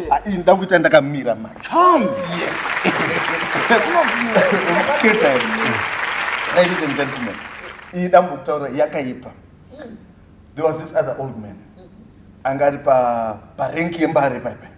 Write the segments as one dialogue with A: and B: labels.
A: Ah, ini nda kuita ndakamira machom yes keta ladies and gentlemen iyi dambo kutaura yakaipa there was this other old man anga ari parenki yembare paipai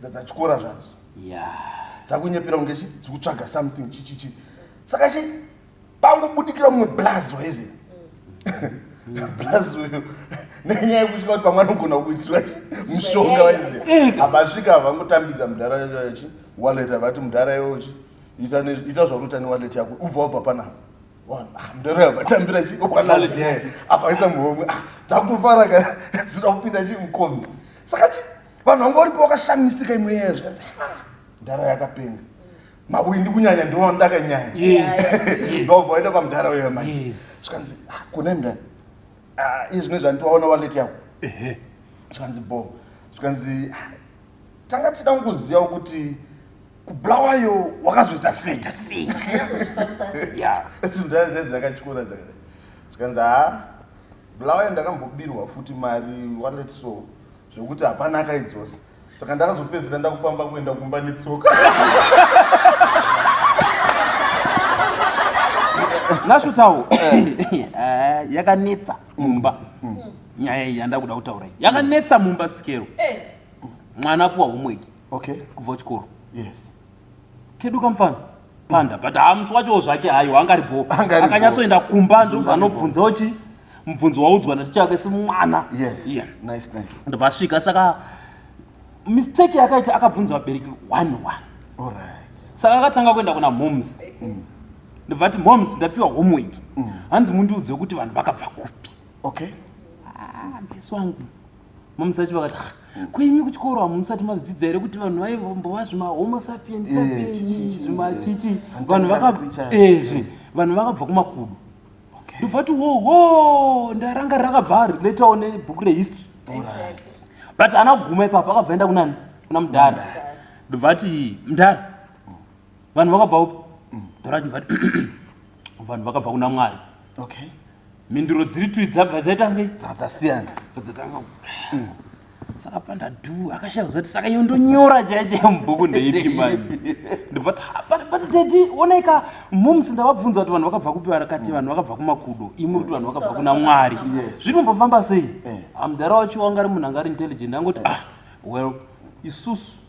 A: dzadzatyora zvadzo dzakunyepera kunge dzikutsvaga something chichichi saka chi pangobudikira mumwe blaz waizi blaz uyu nenyaya yekutya kuti pamwe anogona kuitirwa mushonga waizi abasvika havangotambidza mudhara yachi wallet avati mudhara yochi ita zvauri uta newallet yako ubva wabva panapa ah, mudhara yavatambira chi okwalaziyaye apaisa muhomwe ah, dzakufara ka dzinoda kupinda chi mukombi saka chi vanhu vanga uripo wakashamisika imwe yeyo zvikanzi mdhara yakapenga mawindi kunyanya ndiwo andaka nyaya ndobva waenda kwamdhara uyo manje zvikanzi ah, kune mdhara ah, iye zvine zvanditi waona waleti yako zvikanzi bo zvikanzi ah, tanga tichida kungoziva kuti kubulawayo wakazoita sei mdhara zai dzakatyora dzakada zvikanzi ha bulawayo ndakambobirwa futi mari waleti so zvekuti hapana akaidzosa saka ndakazopedzera ndakufamba kuenda kumba netsoka
B: nasvutawo ah, yakanetsa mumba mm. nyaya iyi yandakuda kutaura iyi yakanetsa mumba sikero eh. mwana apuwa homweki kubva
A: chikoro
B: yes
A: kedu
B: kamfana panda but hamusi wachowo zvake hayo angari bho akanyatsoenda kumba ndobva anobvunzawo chi mubvunzo waudzwa naticha wake simwana yes. yeah. nice,
A: nice. ndobva asvika saka
B: mistake yakaita akabvunza vabereki one one right.
A: saka akatanga kuenda
B: kuna moms mm. ndobva ati moms ndapiwa homework mm. hanzi mundiudze kuti vanhu vakabva kupi okay.
A: ah,
B: mbisu wangu Momsa vacho vakati ah, kwenyu kuchikoro hamusati madzidza here kuti vanhu vaimbova zvimahomo sapiens eh, sapiens zvimachichi vanhu vakazvi eh, vanhu vakabva kumakudu ndovati wowo ndaranga rakabva later on ebhuku rehistory but ana kuguma ipapo akabva enda kunani kuna mudhara ndovati mudhara vanhu vakabva upi mm. ndorati mvati vanhu vakabva kuna mwari
A: mhinduro dziri
B: twi dzabva dzaita sei dzakasiyana
A: dzatanga mm.
B: saka pandadu akashaya kuziva kuti saka iyo ndonyora chaya chaya mubhuku ndeipi mani ndobva ti but dedi onai ka moms ndavabvunza kuti vanhu vakabva kupi vakati vanhu vakabva kumakudo imwe kuti vanhu vakabva kuna mwari zviri mumbofamba sei eh. amudhara wacho wanga ari munhu anga ari intelligent angoti ah well isusu